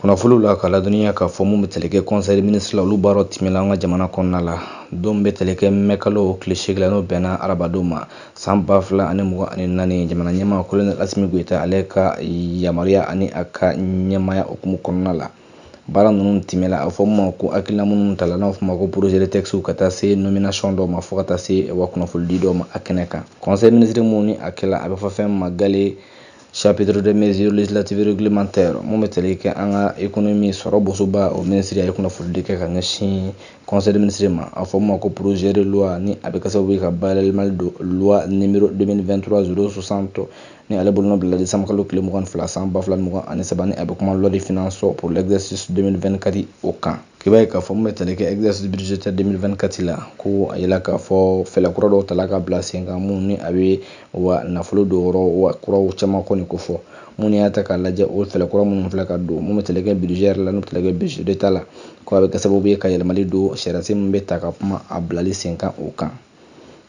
kunnafoliw la ka ladɔnniya k'a fɔ mun bɛ tali kɛ conseil des ministres la olu baaraw tɛmɛna an ka jamana kɔnɔna la don bɛ tali kɛ mɛ kalo tile seegin la n'o bɛnna arabadon ma san ba fila ani mugan ani naani jamana ɲɛmaa kolonɛli asimi goyita ale ka yamaruya ani a ka ɲɛmaya hukumu kɔnɔna la baara ninnu tɛmɛla a fɔ ma ko hakilina minnu tala n'a fɔ ma ko projet de texte ka taa se nomination dɔw ma fo ka taa se wa kunnafolidi dɔw ma a kɛnɛ kan conseil des ministres mun ni a kɛla a bɛ fɔ fɛn ma gale Chapitre de mesures législatives réglementaires mun bɛ tali kɛ an ka économie sɔrɔ bosoba o minisiri a ye kunnafonidi kɛ ka ɲɛsin conseil des ministres ma a fɔ min ma ko projet de loi ni a bɛ kɛ sababu ye ka bayɛlɛmali don loi numéro 2023 060 ni ale bolonɔ bilala décembre kalo tile mugan ni fila san ba fila ni mugan ani saba ni a bɛ kuma loi de finances pour l'exercice 2024 o kan. K'i b'a ye k'a fɔ min bɛ tali kɛ exercice budgétaire 2024 la ko a yela k'a fɔ fɛɛlɛ kura dɔw tala ka bila sen kan mun ni a bɛ wa nafolo donyɔrɔ wa kuraw caman kɔni kofɔ mun n'i y'a ta k'a lajɛ o fɛɛlɛ kura minnu filɛ ka don mun bɛ tali kɛ budget yɛrɛ la n'o bɛ tali kɛ budget d'état la ko a bɛ kɛ sababu ye ka yɛlɛmali don sariyasen min bɛ ta ka kuma a bilali sen kan o kan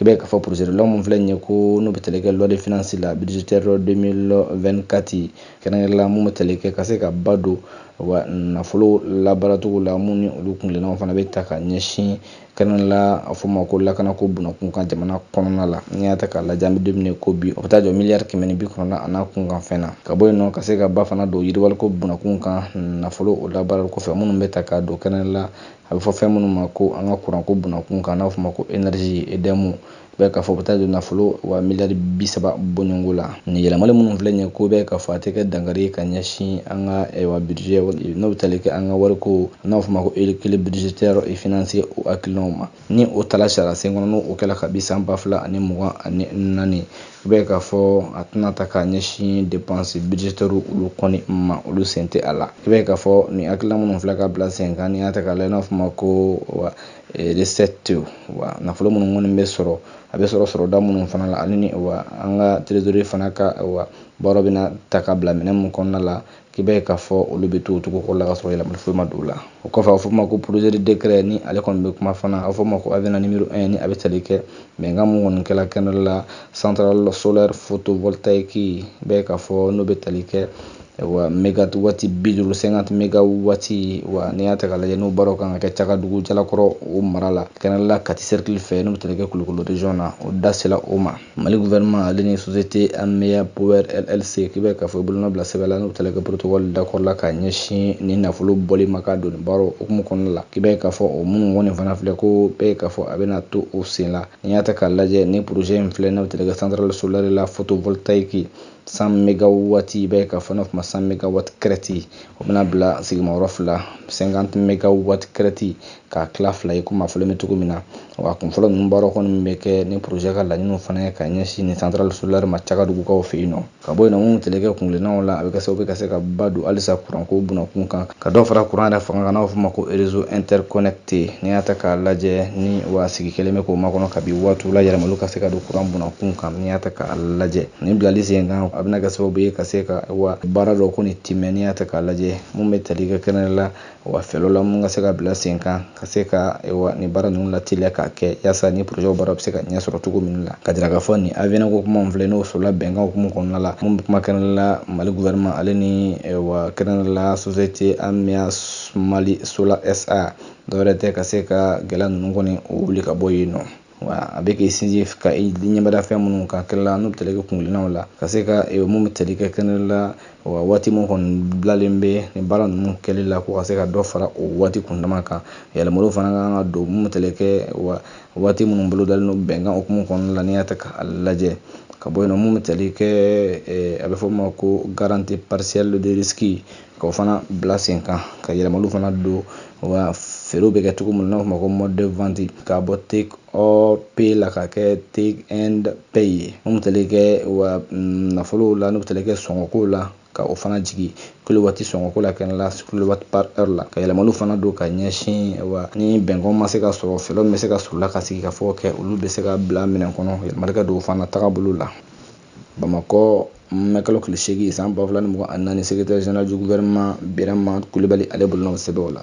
i b'a ye k'a fɔ projet de loi mun filɛ nin ye ko n'o bɛ tali kɛ loi de finances la budgétaire 2024 kɛrɛnkɛrɛnnenya la mun bɛ tali kɛ ka se ka ba don wa nafolo labaaracogo la minnu ni olu kuntilennaw fana bɛ ta ka ɲɛsin kɛrɛnkɛrɛnnenya la a fɔ ma ko lakanako bunakun kan jamana kɔnɔna la n'i y'a ta k'a lajɛ an bɛ don min na ko bi o bɛ taa jɔ miliyari kɛmɛ bi kɔnɔntɔn a n'a kunkanfɛn na ka bɔ yen nɔ ka se ka ba fana don yiriwaliko bunakun kan nafolo o labaarali kɔfɛ minnu bɛ ta ka don kɛrɛnkɛrɛnnenya la A bɛ fɔ fɛn minnu ma ko an ka kuranko bunakun kan n'a fɔ ma ko énergie EDM bɛ k'a fɔ u bɛ taa don nafolo wa miliyari bi saba bɔɲɔgɔnko la nin yɛlɛmali minnu filɛ nin ye ko bɛ k'a fɔ a tɛ kɛ dankari ye ka ɲɛsin an ka wa budget n'o bɛ tali kɛ an ka wariko n'a fɔ ma ko équilibre budgétaire et financier o hakilinaw ma ni o tala sariyasen kɔnɔ n'o kɛla kabi san ba fila ani mugan ani naani i b'a ye k'a fɔ a tɛna ta k'a ɲɛsin dépenses budgétaires olu kɔni ma olu sen tɛ a la i b'a ye k'a fɔ nin hakilina minnu filɛ ka bila sen kan n'i y'a ta k'a lajɛ n'a fɔ ma ko wa recette wa nafolo minnu kɔni bɛ sɔrɔ a bɛ sɔrɔ sɔrɔda minnu fana la ani wa an ka trésorerie fana ka wa baara bɛna ta ka bila minɛn minnu kɔnɔna la k'i b'a ye k'a fɔ olu bɛ to o cogo kɔrɔ la ka sɔrɔ yɛlɛmali foyi ma don o la o kɔfɛ a bɛ fɔ ma ko projet de décret ni ale kɔni bɛ kuma fana a bɛ fɔ ma ko avenant numéro 1 ni a bɛ tali kɛ bɛnkan mun kɔni kɛla kɛnɛ la centrale solaire photovoltaïque i b'a ye k'a fɔ n'o bɛ tali kɛ wa mégawatt bi duuru cinquante mégawatts wa n'i y'a ta k'a lajɛ n'o baaraw kan ka kɛ cagadugu jalakɔrɔ o mara la kɛrɛnkɛrɛnnenya la kati cercle fɛ n'o bɛ tali kɛ kulukoro région na o da sela o ma mali gouvernement ale ni société ameya power llc k'i b'a ye k'a fɔ i bolonɔ bila sɛbɛn la n'u tali kɛ protocole d'accord la ka ɲɛsin ni nafolo bɔli ma ka don nin baaraw hukumu kɔnɔna la k'i b'a ye k'a fɔ o minnu kɔni fana filɛ ko bɛɛ ye k'a fɔ a bɛna to o sen la n'i y'a ta k'a lajɛ ni projet in filɛ n'u tali kɛ centrale solaire la photovoltaïque 100 megawati i b'a ye k'a fɔ n'a fɔ ma 100 megawati crête o bɛna bila sigimayɔrɔ fila 50 megawati crête k'a tila fila ye komi a fɔlen bɛ cogo min na wa kun fɔlɔ ninnu baaraw kɔni bɛ kɛ ni projet ka laɲiniw fana ye ka ɲɛsin nin centrale solaire ma cagadugukaw fɛ yen nɔ ka bɔ yen nɔ minnu tali kɛ kungilennaw la a bɛ kɛ sababu ka se ka ba don halisa kuranko bunakun kan ka dɔ fara kuran yɛrɛ fanga kan n'a bɛ f'o ma ko réseau interconnecté n'i y'a ta k'a lajɛ ni wa sigi kɛlen bɛ k'o makɔnɔ kabi waatiw la yɛlɛmaliw ka se ka don kuran bunakun kan n'i y'a ta k'a lajɛ nin bilali sen kan a bɛna kɛ sababu ye ka se ka wa baara dɔ kɔni tɛmɛ n'i y'a ta k'a lajɛ mun bɛ tali kɛ kɛnɛ la wa fɛɛrɛw la mun ka se ka bila sen kan ka se ka wa ni baara ninnu lateliya k'a kɛ yaasa ni projetw baara bɛ se ka ɲɛ sɔrɔ cogo min la ka jira k'a fɔ nin avenant ko kuma filɛ n'o sɔrɔla bɛnkan hukumu kɔnɔna la mun bɛ kuma kɛrɛnkɛrɛn la mali gouvernement ale ni wa kɛrɛnkɛrɛn la société ameya mali solar sa dɔwɛrɛ tɛ ka se ka gɛlɛya ninnu kɔni wuli ka bɔ yen nɔ a bɛ k'i sinsin ka ɲɛmada fɛn minnu kan kɛnɛ la n'u bɛ tali kɛ kungilennaw la ka se ka e, mun bɛ tali kɛ kɛnɛ la wa waati min kɔni bilalen bɛ nin baara ninnu kɛli la ko ka se ka dɔ fara o waati kundama kan yɛlɛmaliw fana ka kan ka don mun bɛ tali kɛ wa waati minnu bolodalen don bɛnkan hukumu kɔnɔna la n'i y'a ta k'a lajɛ ka bɔ yen nɔ mun bɛ tali kɛ a bɛ fɔ o ma ko garantie partielle de risque Ka o fana bila sen kan ka yɛlɛmaliw fana don wa feerew bɛ kɛ cogo min na n'a fɔ ma ko mode de vente k'a bɔ take or pay la ka kɛ take and pay ye n'u tali kɛ wa mm, nafolow la n'u tali kɛ sɔngɔkow la ka o fana jigin kilowati sɔngɔko la kɛnɛ la kilowati par heure la ka yɛlɛmaliw fana don ka ɲɛsin wa ni bɛnkan ma se ka sɔrɔ fɛɛrɛw bɛ se ka sɔrɔ o la ka sigikafɔ kɛ olu bɛ se ka bila minɛn kɔnɔ yɛlɛmali ka don o fana tagabolo la bamakɔ mɛkalo tile seegin san ba fila ni mugan ani naani secrétaire général du gouvernement birama kulibali ale bolonɔ bɛ sɛbɛn o la